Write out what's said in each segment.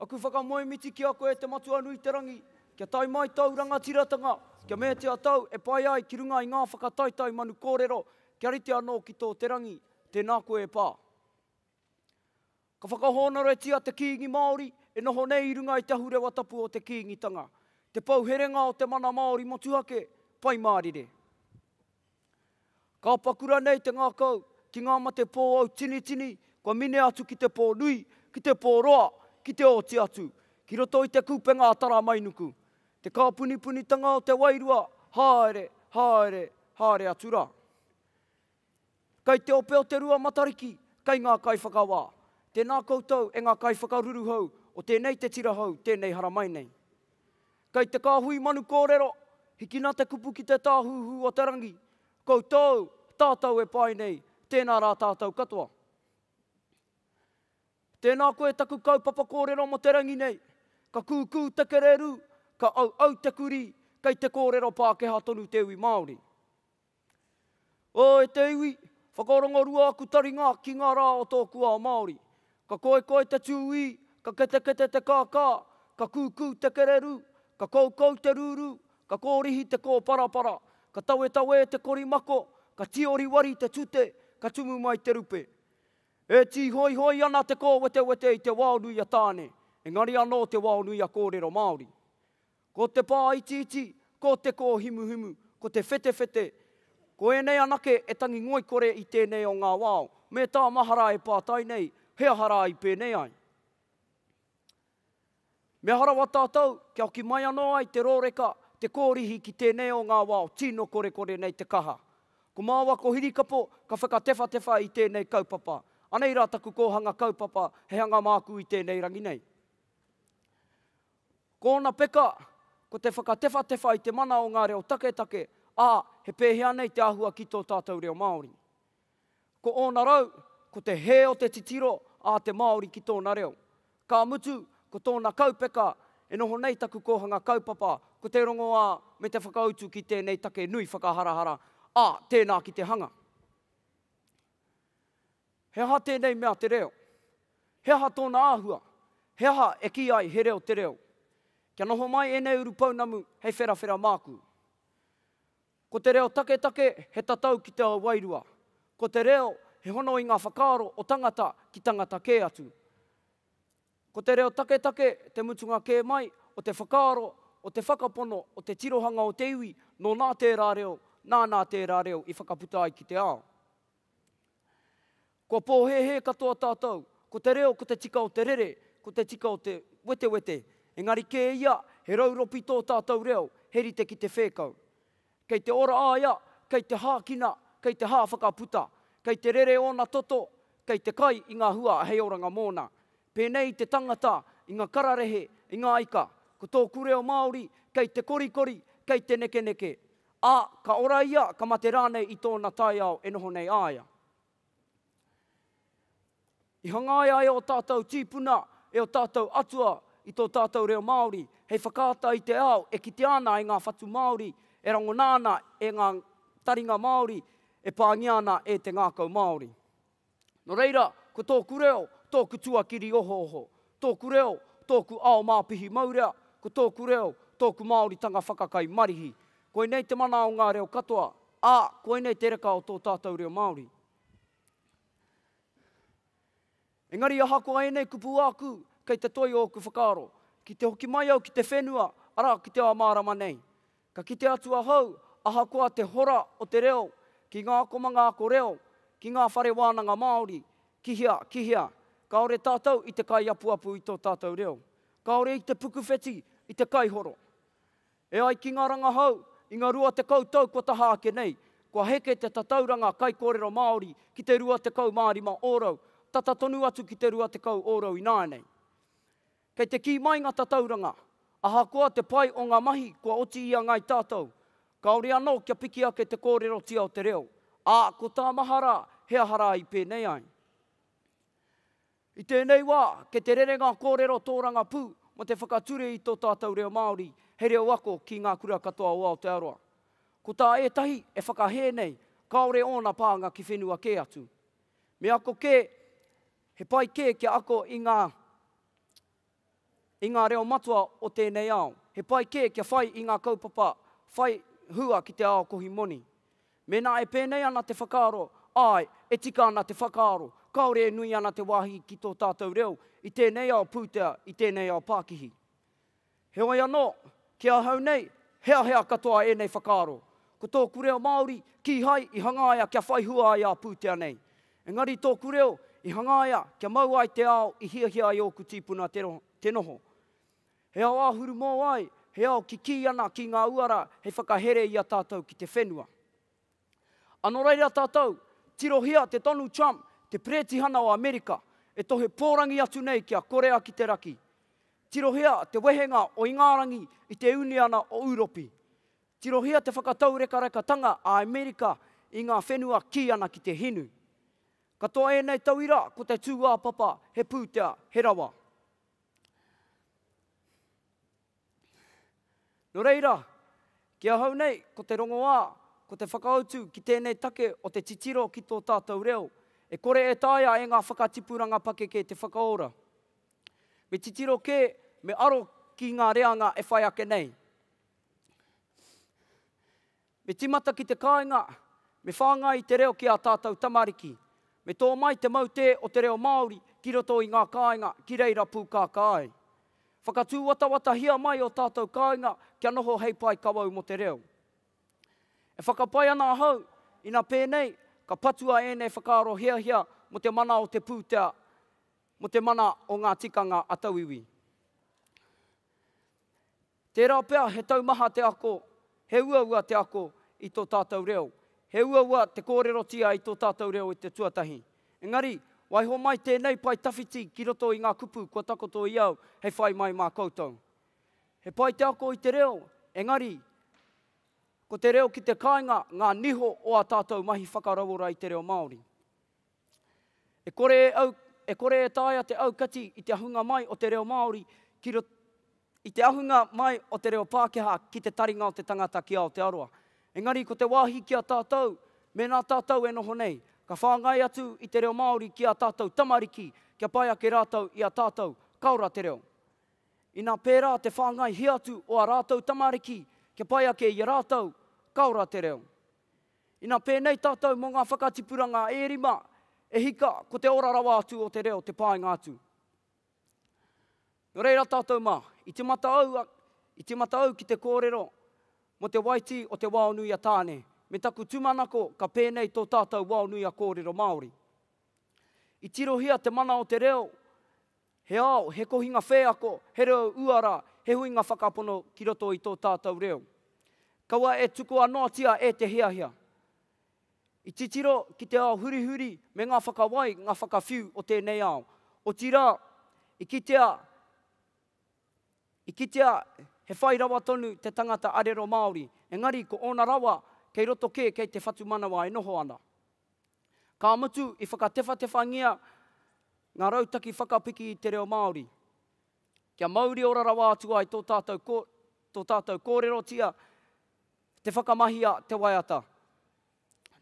Aku whakamoemiti ki a koe e te Matua nui te rangi, kia tae mai tōu rangatiratanga, kia meatia tau e pai ai ki runga i ngā whakataetae manu kōrero, kia rite anō ki tō te rangi, tēnā koe e Pā. Ka whakahōnoretia te Kīngi Māori e noho nei i runga i te ahurewa tapu o te Kīngitanga, te pou herenga o te mana Māori motuhake, Pai Mārire. Ka paku ranei te ngakau ki nga mate pōau tinitini kua mine atu ki te pō nui, ki te pō roa, ki te oti atu, ki roto i te kupenga a Taramainuku? Te kāpunipunitanga o te wairua, haere, haere, haere atu ra. Kai te ope o te rua Matariki, kai nga kaiwhakawā. Tēnā koutou e nga kaiwhakaruruhau o tēnei te tira hou, tēnei haramai nei. Kei te kāhui manu kōrero, hikina te kupu ki te tāhuhu o te rangi, koutou, tātou e pai nei, tēnā rā tātou katoa. Tēnā koe taku kaupapa kōrero mo te rangi nei, ka kūkū te kererū, ka auau te kurī, kei te kōrero Pākehā tonu te iwi Māori. O, e te iwi, whakarongorua aku taringa ki ngā rā o tōku ao Māori. Ka koikoi te tūī, ka ketekete te kākā, ka kūkū te kererū, ka koukou te rūrū, ka kōrihi te kōparapara, ka tawetawē te korimako, ka tioriwari te tute, ka tumu mai te rupe. E tīhoihoi ana te kōwetewete i te wao nui a Tāne, engari anō te wao nui a kōrero Māori. Ko te pā itiiti, ko te kōhimuhimu, ko te whetewhete, ko ēnei anake e tangi ngoikore i tēnei o ngā wao. Me tā mahara e pātai nei, he aha rā i pēnei ai? Me aha rawa tātou kia hoki mai anō ai te rōreka, te kōrihi ki tēnei o ngā wao tino korekore nei te kaha? Ko māua ko Hirikapo ka whakatewhatewha i tēnei kaupapa. Anei rā taku kōhanga kaupapa, he hanga māku i tēnei rangi nei. Ko ōna peka, ko te whakatewhatewha i te mana o ngā reo taketake, ā, he pēhea nei te āhua ki tō tātou reo Māori. Ko ōna rau, ko te hē o te titiro a te Māori ki tōna reo. Ka mutu, ko tōna kaupeka, e noho nei taku kōhanga kaupapa, ko te rongoā me te whakautu ki tēnei take nui whakaharahara, ā, tēnā ki te hanga. He aha tēnei mea te reo? He aha tōna āhua? He aha e kī ai he reo te reo? Kia noho mai ēnei urupounamu hei wherawhera māku. Ko te reo taketake he tatau ki te ao wairua. Ko te reo he hono i ngā whakaaro o tangata ki tangata kē atu. Ko te reo taketake te mutunga kē mai o te whakaaro, o te whakapono, o te tirohanga o te iwi, nō nā tērā reo, nā nā tērā reo i whakaputa ai ki te ao. Kua pōhēhē katoa tātou, ko te reo ko te tika o te rere, ko te tika o te wetewete, engari kē ia he rauropi tō tātou reo, he rite ki te whēkau. Kei te ora a ia, kei te hākina, kei te hāwhakaputa, kei te rere ōna toto, kei te kai i ngā hua hei oranga mōna. Pēnei i te tangata, i ngā kararehe, i ngā ika. Ko tōku reo Māori, kei te korikori, kei te nekeneke. Ā, ka ora ia, ka mate rānei i tōna taiao e noho nei a ia. I hangaia e ō tātou tīpuna, e ō tātou atua i tō tātou reo Māori, hei whakaata i te ao e kitea ana e ngā whatu Māori, e rangona ana e ngā taringa Māori, e pāngia ana e te ngākau Māori. Nō reira, ko tōku reo, tōku tuakiri ohooho, tōku reo, tōku ao māpihi maurea, ko tōku reo, tōku Māoritanga whakakai marihi. Koinei te mana o ngā reo katoa, ā, koinei te reka o tō tātou reo Māori. Engari ahakoa ēnei kupu āku, kei te toi ōku whakaaro. Ki te hoki mai au ki te whenua, arā, ki te ao mārama nei. Ka kite atu ahau, ahakoa te hora o te reo, ki ngā komanga ako reo, ki ngā whare wānanga Māori, ki hea, ki hea, kāore tātou i te kaiapuapu i tō tātou reo. Kāore i te pukuwheti, i te kaihoro. E ai ki ngā rangahau, i ngā rua tekau tau kua taha ake nei, kua heke te tatauranga kaikōrero Māori ki te rua tekau mā rima ōrau, tata tonu atu ki te rua tekau ōrau ināianei. Kei te kī mai ngā tatauranga, ahakoa te pai o ngā mahi kua oti i a Ngāi Tātou, kāore anō kia piki ake te kōrerotia o te reo, ā, ko tā mahara he aha rā i pēnei ai. I tēnei wā, kei te rere ngā kōrero tōrangapū mō te whakature i tō tātou reo Māori hei reo ako ki ngā kura katoa o Aotearoa. Ko tā ētahi e whakahē nei, kāore ōna pānga ki whenua kē atu. Me ako kē, He pai kē kia ako i ngā, i ngā reo matua o tēnei ao. He pai kē kia whai i ngā kaupapa whai hua ki te ao kohi moni. Mēnā e pēnei ana te whakaaro, āe, e tika ana te whakaaro, kāore e nui ana te wāhi ki tō tātou reo i tēnei ao pūtea, i tēnei ao pākihi. Heoi anō, ki ahau nei, heahea katoa ēnei whakaaro. Ko tōku reo Māori, kīhai i hangaia kia whai hua ai a pūtea nei. Engari tōku reo i hangaia kia mau ai te ao i hiahia ai ōku tīpuna te noho. He ao āhuru mōwai, he ao kikī ana ki ngā uara hei whakahere i a tātou ki te whenua. Ano rei ra tatou, tirohia te tonu Trump te peretihana o Amerika e tohe porangi atu nei ki a Korea ki te Raki. Tirohia te wehenga o Ingarangi i te Uniana o Uropi. Tirohia te whakataurekareka-tanga a Amerika i nga whenua ki ana ki te hinu. Katoa enei tauira ko te tuapapa he putea, he rawa. Nō reira, ki ahau nei, ko te rongoā, ko te whakautu ki tēnei take o te titiro ki tō tātou reo, e kore e taea e ngā whakatipuranga pakeke te whakaora. Me titiro kē, me aro ki ngā reanga e whai ake nei. Me tīmata ki te kāinga, me whāngai i te reo ki ā tātou tamariki. Me tō mai te mautē o te reo Māori ki roto i ngā kāinga ki reira pūkākā ai. Whakatūwatawatahia mai ō tātou kāinga kia noho hei pae kawau mō te reo. E whakapae ana ahau, ina pēnei, ka patua ēnei whakaaro hiahia mō te mana o te pūtea, mō te mana o ngā tikanga a tauiwi. Tērā pea he taumaha te ako, he uaua te ako i tō tātou reo, he uaua te kōrerotia i tō tātou reo i te tuatahi. Engari, waiho mai tēnei pae tawhiti ki roto i ngā kupu kua takoto i au hei whai mai mā koutou. He pai te ako i te reo, engari, ko te reo ki te kāinga ngā niho o ā tātou mahi whakarauora i te reo Māori. E kore e au, e kore e taea te aukati i te ahunga mai o te reo Māori ki roto, i te ahunga mai o te reo Pākehā ki te taringa o te tangata ki Aotearoa. Engari ko te wāhi ki a tātou, mēnā tātou e noho nei, ka whāngai atu i te reo Māori ki ā tātou tamariki kia pai ake rātou i a tātou, ka ora te reo. Inā pērā te whāngaihia atu o ā rātou tamariki kia pai ake i a rātou, ka ora te reo. Ina pēnei tātou mō ngā whakatipuranga e rima, e hika, ko te ora rawa atu o te reo te pānga atu. Nō reira tātou mā, i timata au, i timata au ki te kōrero mō te waitī o te Waonui-a-Tāne, me taku tūmanako ka pēnei tō tātou Waonui-a-Kōrero Māori. I tirohia te mana o te reo, He ao, he kohinga wheako, he reo uara, he huinga whakapono ki roto i tō tātou reo. Kaua e tukua noatia e te hiahia. I titiro ki te ao hurihuri me ngā whakawai, ngā whakawhiu o tēnei ao. Otirā, i kitea, i kitea he whai rawa tonu te tangata arero Māori, engari ko ōna rawa kei roto kē kei te whatumanawa e noho ana. Ka mutu, i whakatewhatewhangia ngā rautaki whakapiki i te reo Māori. Kia mauriora rawa atu ai tō tātou, ko, tō tātou kōrerotia, te whakamahia te waiata.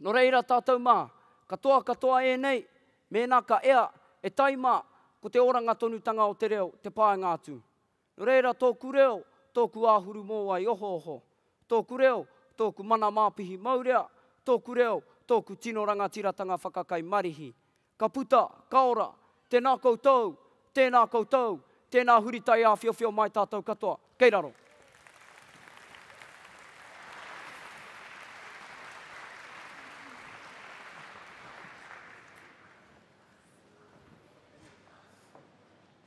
Nō reira tātou mā, katoa katoa ēnei, mēnā ka ea, e tai mā, ko te oranga tonutanga o te reo te pānga atu. No reira tōku reo, tōku āhuru mōwai ohooho, tōku reo, tōku mana māpihi maurea, tōku reo, tōku tino rangatiratanga whakakai marihi. Ka puta, ka ora, tēnā koutou, tēnā koutou, tēnā huri taiāwhiowhio mai tātou katoa. Kei raro.